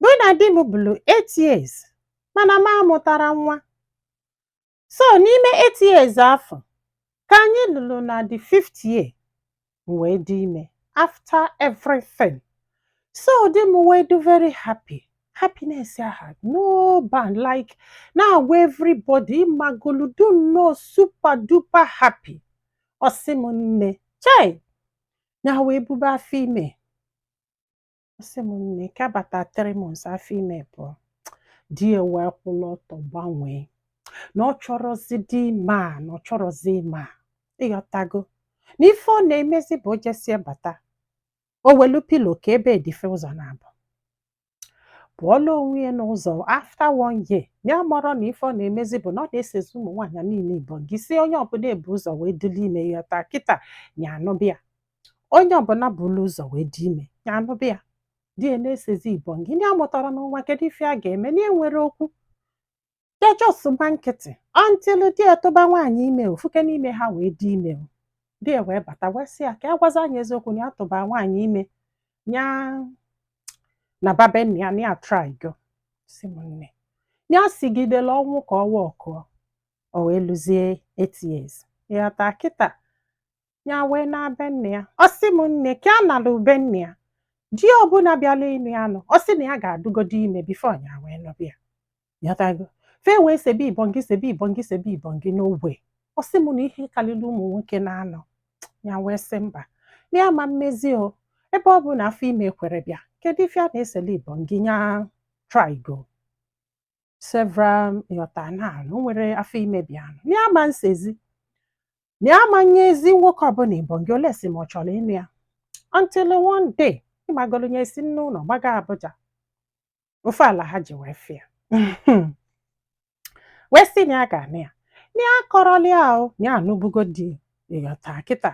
mụ na di m bụrụ eight years mana m amụtarọ nwa so n'ime eight years afọ ka anyị lụrụ na the fifth year m wee dị ime after everything so di m wee dị very happy happiness ya had no bound like na-agwa everybody ịmagolu dị nnọọ super duper happy ọ sị m nne chai ya wee bube afọ ime ọ sị m nne ka bata three months afọ ime pụọ di ya wee kwụlụ ọtọ gbanwee na ọ chọrọzidi ịma na ọ chọrọzi ịma ịghọtago na ife ọ na-emezi bụ o jesie bata o welu pilo ka ebe edife ụzọ na-abụ pụọla onwe ya n'ụzọ after one year ya amarọ na ife ọ na-emezi bụ na ọ na-esezi ụmụ nwaanyị niile ibongị sị onye ọbụla bu ụzọ wee dịla ime ịghọta kịta ya anụba ya onye ọbụla buru ụzọ wee dị ime ya anụba ya di ya na-esezi ibongị ndị amụtarọ nwa kedu ife a ga-eme na enwerọ okwu ya just gba nkịtị until di ya tụba nwaanyị ime ofuke n'ime ha wee dị ime di ya wee bata wee sị ya ka ya gwazi anyị eziokwu na ya tụba nwaanyị ime ya naba be nna ya na ya trygo sị m nne ya sigidela ọnwụ ka ọ workụọ o wee luzie eight years ịghọta kịta ya wee naa be nna ya ọ sị m nne ka ya nalu be nna ya di ọbụla bịala ịnụ ya nụ ọ sị na ya ga-adịgodu ime before ya wee nụba ya ịghọtago fa wee sebe ibongị sebe ibongị sebe ibongị n'ogbe ọ sị m na ihe karịrị ụmụ nwoke na-anọ ya wee sị mba na ya ama emezi o ebe ọ bụ na afọ ime ekwerọ bịa kedu ife a na-esele ibongị nya trygo several ịghọta na o nwerọ afọ ime bịanụ ya ama esezi na ya ama nyezi nwoke ọbụla ibongị unless ma ọ chọrọ ịnụ ya until one day ịmagolu nya si n'ụlọ gbaga Abuja ofu alhaji wee fụ ya wee sị na ya ga-anụ ya na ya akọrọla ya how na ya anụbugo di ịghọta kịta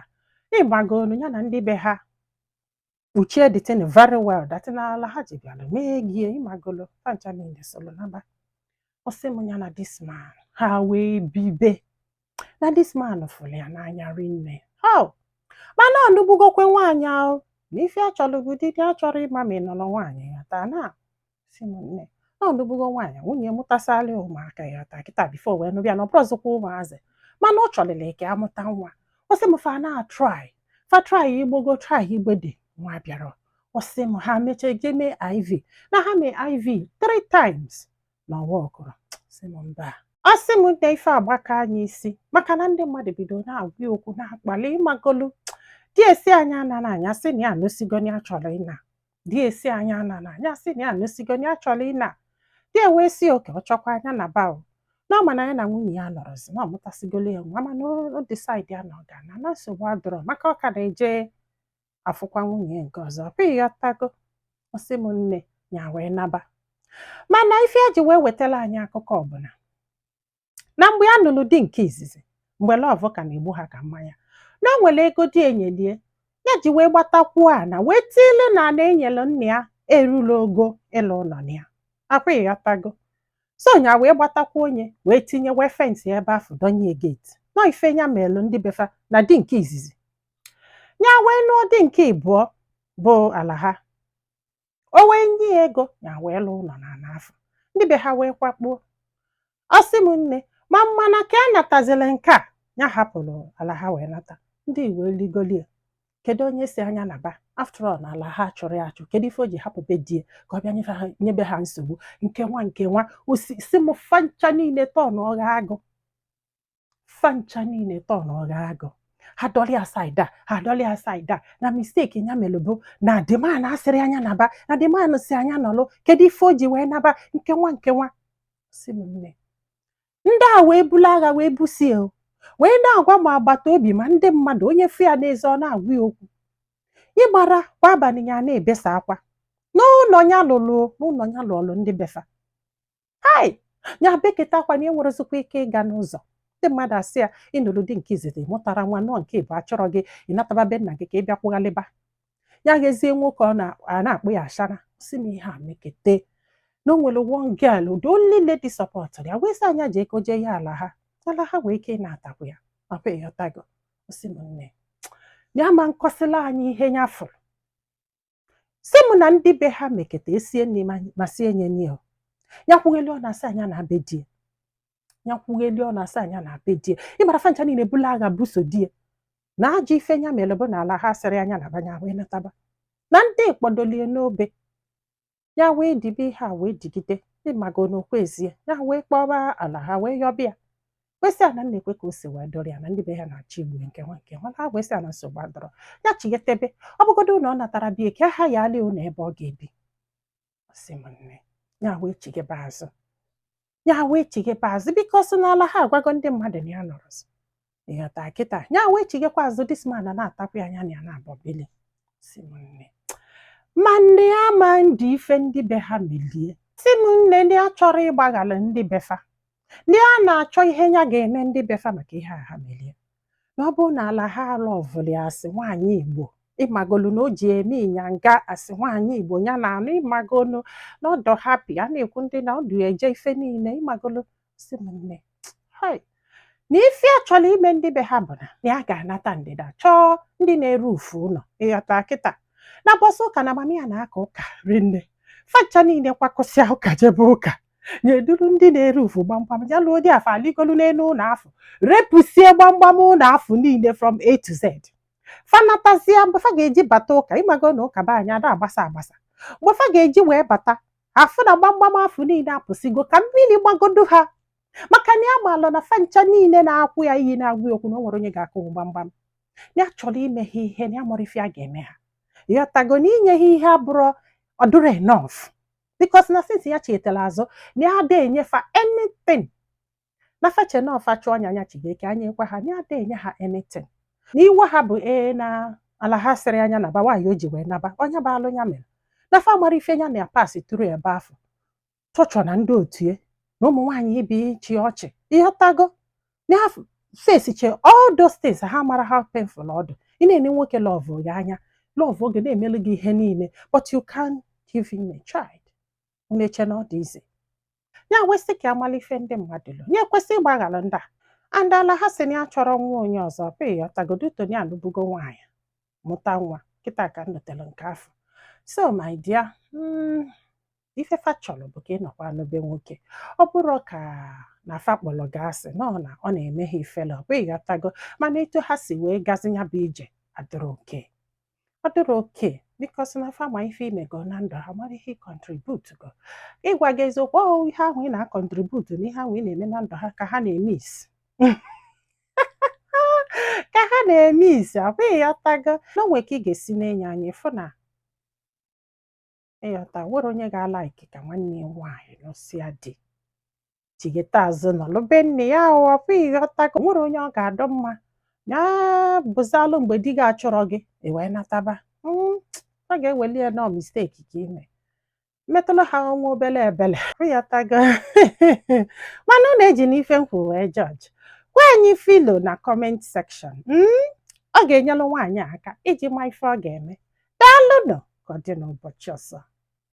ịmagolu ya na ndị be ha kpuchie the thing very well that na alhaji bịara mee gie ịmagolu ha ncha niile solo naba ọ sị m ya na this man ha wee bibe na this man fụrụ ya n'anya rinne how mana ọ nụbugokwa nwaanyị ahụ na ife achọrọ bụ di di achọrọ ịma ma ị nụlụ nwaanyị ịghọta na sị m nne na ọ nụbugo nwaanyị nwunye mụtasịala ya ụmụaka ịghọta kịta before wee nụba ya na ọ bụrọzikwa ụmụazị mana ọ chọlịrị ka amụta nwa ọ sị m fa na-try fa try igbogo try igbede nwa bịarọ ọ sị m ha mechaa jee mee iv na ha mee iv three times na ọ workụrọ sị m mba ọ sị m nne ife agbakaa nya isi maka na ndị mmadụ bido na-agwa ya okwu na-akpali ịmagolu di ya sị nya anana nya sị na ya anụsigo na ya chọrọ ịna die sị a nya anana nya asị na ya anụsigo na ya chọrọ ịna die wee sị oke ọ chọkwa a nya naba o na ọ ma na ya na nwunye ya anọrọzi na ọ mụtasịgolo ya nwa mana o disaidi ya na ọ ga-ana na nsogbu adọrọ maka ọ ka na-eje afụkwa nwunye nke ọzọ ịghọtago ọ sị m nne ya wee naba mana ife eji wee wetara anyị akụkọ ọ bụ na na mgbe ya nụrụ di nke izizi mgbe lọv ka na-egbu ha ka mmanya na o nwere ego die nyelie ya ji wee gbatakwuo ana wee tiile na ana e nyere nna ya erula ogo ịlụ ụnọ na ya ọkwa ịghọtago so nya wee gbatakwuo onye wee tinye wee fensịa ebe afụ donye geti nọ ife nya melụ ndị befa na di nke izizi ya wee nụọ di nke ịbụọ bụ ala ha o wee nye ya ego nya wee lụọ ụnọ na ana afụ ndị be ha wee kwakpuo ọ sị m nne ma mana ka a natazili nke a ya hapụrụ ala ha wee nata ndị iwe rigolie kedu onye sị a nya naba after all na ala ha achụrọ ya achụ kedu ife o ji hapụ be die ka ọ bịa nyebe ha nsogbu nke nwa nke nwa ọ sị m fancha niile tọn ọgha agụ fancha niile tọ na ọ ga-agụ ha adọrọ side ya ha adọrọ side ya na misteki nya melụ bụ na the man asịrọ a nya naba na the man sị a nya nọlụ kedu ife o ji wee naba nke nwa nke nwa sị m nne ndị a wee bulu agha wee busie wee na-agwa ma agbata obi ma ndị mmadụ onye fụ ya n'ezi ọ na-agwa ya okwu ịgbara kwa abalị ya na-ebesa akwa n'ụnọ ya lụrụ n'ụnọ ya lụọlụ ndị befa hai ya beketa akwa na enwerọzikwa ike ịga n'ụzọ ndị mmadụ asị ya ị nụrụ di nke izizi mụtara nwa nụọ nke ịbụọ achụrọ gị ị nataba be nna gị ka ị bịa kwụghalịba ya gazie nwoke ọ na-akpọ ya ashawo sị m ihe a mekete na o nwere one girl the only lady support ya wee sị a nya ji ego jee ya ala ha ala ha nwee ike natakwu ya ọkwa ịghọtago ọ sị m nne ya ama nkọsịla anyị ihe ya fụrụ sị mụ na ndị be ha meketa esie nri ma sie nye nri o ya kwugheli ọnụ a sị a nya naa be di ya ya kwugheli ọnụ a sị a nya naa be di ya ịmara fancha niile bulu agha buso di ya na ajọ ife nya mere bụ na ala ha asịrọ a nya naba nya wee nataba na ndị kpọdolie n'obe ya wee dibe ihe a wee digide ịmago n'okwu ezie ya wee kpọba ala ha wee yọbịa wee sị a na nekwe ka o si wee dọrọ ya na ndị be ha na-achọ igbu nke nwa nke nwa ala ha wee sị a na nsogbu adọrọ ya chighetebe ọ bụgodo na ọ natara bie ka ha ya alụ ụnọ ebe ọ ga-ebi ọ sị m nne ya wee chighebe azụ ya wee chighebe azụ bikọs na ala ha agwago ndị mmadụ na ya anọrọzi ịghọta kịta ya wee chighekwa azụ dis man natakwa a nya na ya naabọ bili sị m nne mana ya ama ndi ife ndị be ha melie sị m nne na ya achọrọ ịgbaghalụ ndị befa na ya na-achọ ihe ya ga-eme ndị befa maka ihe a ha melie na ọ bụrụ na ala ha alọvụli as nwaanyị Igbo ịmagolu na o ji eme ịnyanga as nwaanyị Igbo ya na-anụ ịmagolu na ọ dọ hapi a na-ekwu ndị na ọdụ eje ife niile ịmagolu sị m nne hai na ife a chọrọ ime ndị be ha bụ na na ya ga-anata ndịda chọọ ndị na-erufu ụlọ ịghọta kịta n'ụbọsị ụka na mama ya na-aka ụka rinne fa ncha niile kwakọsịa ụka jebe ụka nya eduru ndị na-erufu gbamgbam ya luo ndị afụ aligolu n'elu ụlọ afụ repụsie gbamgbam ụlọ afụ niile from A to Z fa anatazie mgbe fa ga-eji bata ụka ịmago na ụka be anyị ada agbasa agbasa mgbe fa ga-eji wee bata afụ na gbamgbam afụ niile apụsịgo ka mmiri gbagodo ha maka na ya maalụ na fa ncha niile na-akpọ ya iyi na-agwa ya okwu na o nwerọ onye ga-akụnwu gbamgbam ya chọrọ ime ha ihe na ya maara ife ya ga-eme ha ịghọtago na inye ha ihe abụrọ ọ dụrọ enough bikos na since ya chighatara azụ na ya ada enye fa anything na fa che na ọ fa chụọ anya anya chigeke anya ekwe ha na ya ada enye ha anything na iwe ha bụ ee na ala ha sịrị nya naba why o ji wee naba ọ nya bụ alụ ya mere na fa mara ife ya na ya pass through ebe afụ torture na ndị otu ya na ụmụ nwaanyị ibe chị ọchị ịghọtago na ha fesiche all those things ha mara how painful ọ dụ ị na-ene nwoke lọvụ gị anya lọvụọ gị na-emelu gị ihe niile but you can't give him a child unu eche na ọ dị izi ya wee sị ka a mala ife ndị mmadụ lụ ya ekwesị ịgbaghara ndị a and ala ha sị na ya chọrọ nwa onye ọzọ pe ịghọtagodo Toni alụbugo nwaanyị mụta nwa kịta ka m nụtere nke afụ so my dear mm, ife fa chọrọ bụ ka ị nọkwa na be nwoke ọ bụrọ ka na fa kpọrọ gị asị na ọ na ọ na-eme ha ifele ọ bụ ịghọtago mana etu ha si wee gazi ya bụ ije adịrọ okay ọ dịrọ okay bikos na fa ma ife i mego na ndụ ha mara ihe i kọntributugo ịgwa gị eziokwu ọ ihe ahụ ị na-akọntributu na ihe ahụ ị na-eme na ndụ ha ka ha na-emisi ka ha na-emisi ọ bụ ịghọtago na o nwe ka ị ga-esi na-ene anya ịfụ na ịghọta nwere onye ga-alaiki ka nwanne ya nwaanyị nụsịa di chigheta azụ nọlụ be nne ya ọ bụ ịghọtago nwere onye ọ ga-adọ mma ya bụzalụ mgbe di gị achọrọ gị i wee nataba hmm, a ga-eweli ya na ọ misteki ka i me metụlụ ha nwa obele ebele ịghọtago mana unu ejina ife m kwuru wee jọji gwa anyị ife i lo na kọment sekshọn hmm? ọ ga-enyelụ nwaanyị a aka iji ma ife ọ ga-eme. Daalụnụ ka ọ dị n'ụbọchị ọzọ.